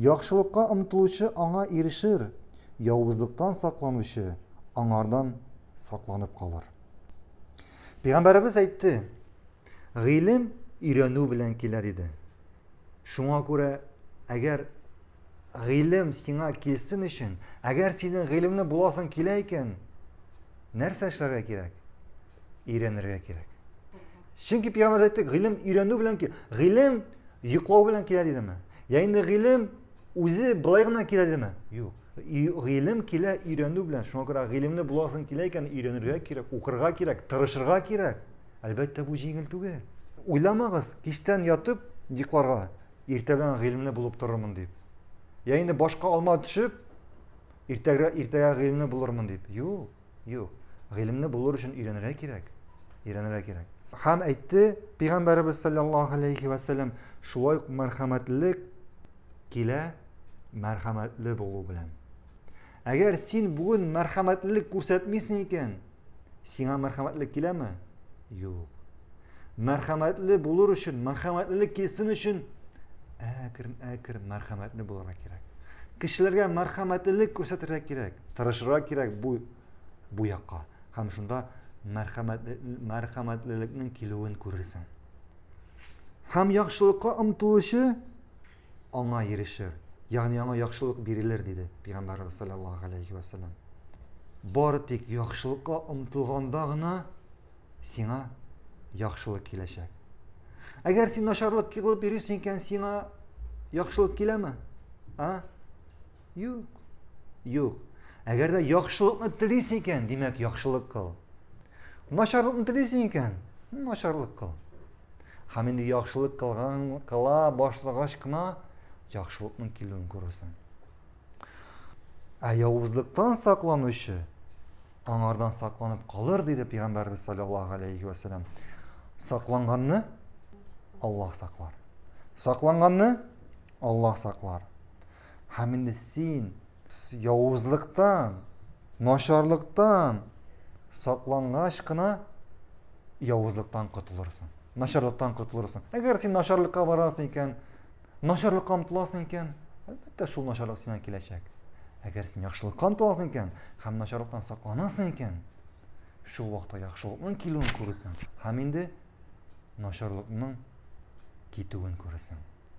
Яхшылыкка омтылучы аңа ирешер, явызлыктан сакланучы аңардан сакланып калыр. Пәйгамбәребез әйтте, гыйлем өйрәнү белән килә диде. Шуңа күрә, әгәр гыйлем сиңа килсен өчен, әгәр синең гыйлемле буласың килә икән, нәрсә эшләргә кирәк? өйрәнергә кирәк. Чөнки пиамәр әйтте, гыйлем өйрәнү белән килә. Гыйлем йоклау белән килә дидеме? Я инде гыйлем үзе былай гына килә дидеме? Юк. Гыйлем килә өйрәнү белән. Шуңа күрә гыйлемне буласың килә икән, өйрәнергә кирәк, укырга кирәк, тырышырга кирәк. Әлбәттә, бу җиңел түгел. Уйламагыз, кичтән ятып йокларга, иртә белән гыйлемле булып торырмын дип. Я инде башка алма төшеп, иртәгә иртәгә гыйлемле булырмын дип. Юк. Юк. Гыйлемне булыр өчен өйрәнергә кирәк. Өйрәнергә кирәк. Һәм әйтте, Пәйгамбәребез саллаллаһу алейхи ва саллям, шулай ук мәрхәмәтлек килә мәрхәмәтле булу белән. Әгәр син бүген мәрхәмәтлек күрсәтмисең икән, сиңа мәрхәмәтлек киләме? Юк. Мәрхәмәтле булыр өчен, мәрхәмәтлелек килсен өчен әкрен-әкрен мәрхәмәтле булырга кирәк. Кешеләргә мәрхәмәтлелек күрсәтергә кирәк. тырышырга кирәк бу бу якка һәм шунда мәрхәмәтлелекнең килүен күрерсең һәм яхшылыкка омтылучы аңа ирешер ягъни аңа яхшылык бирелер диде пәйгамбәрбез саллаллаху алейхи вәсәләм бары тик яхшылыкка омтылганда гына сиңа яхшылык киләчәк әгәр син начарлык кылып йөрисең икән сиңа яхшылык киләме а Юк. Юк. Әгәр дә яхшылыкны телисең икән, димәк, яхшылык кыл. Начарлыкны телисең икән, начарлык кыл. Һәм инде яхшылык кылган кыла башлагач кына яхшылыкның килүен күрерсең. Ә явызлыктан сакланучы аңардан сакланып калыр, диде пәйгамбәрбез саллаллаһу алейхи ва саллям. Сакланганны Аллаһ саклар. Сакланганны Аллаһ саклар. Һәм инде син явызлыктан, начарлыктан саклангач кына явызлыктан котылырсың. Начарлыктан котылырсың. Әгәр син начарлыкка барасың икән, начарлыкка омтыласың икән, әлбәттә шул начарлык сиңа киләчәк. Әгәр син яхшылыкка омтыласың икән һәм начарлыктан сакланасың икән, шул вакытта яхшылыкның килүен күресең һәм инде начарлыкның китүен күресең.